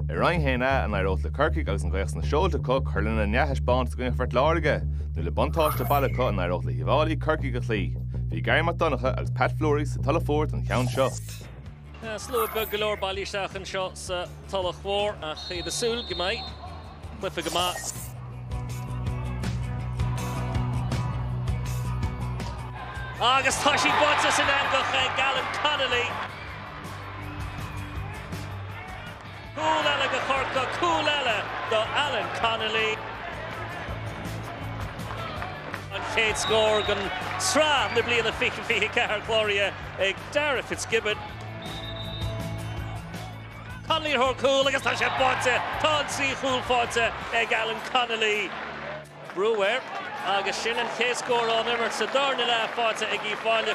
I Roinn 1A an éireodh le Corcaigh agus an ghaoth sna seolta acu cur lena ndea-thaispeántas i gcoinne Phort Láirge, nó le buntáiste baile acu an éireodh le hUíbh Fhailí Corcaigh a chloí. Bhí Garry Mac Donncha agus Pat Fleury sa Tulach Mhór don cheann seo. Tá slua beag go leor bailithe isteach anseo sa Tulach Mhór ach iad ag súil go mbeidh cluiche maith. Agus tá sí buailte san eangach ag Alan Connolly. Cúl eile do Chorcaigh, cúl eile do Alan Connolly. An chéad scór den sraith na bliana 2024 cláraithe ag Darragh Fitzgibbon. Connolly ar thóir cúil agus tá sé faighte! Tá an tríú cúl faighte ag Alan Connolly. Brewer agus sin an chéad scór ón imirt sa darna leath faighte ag Uíbh Fhailí.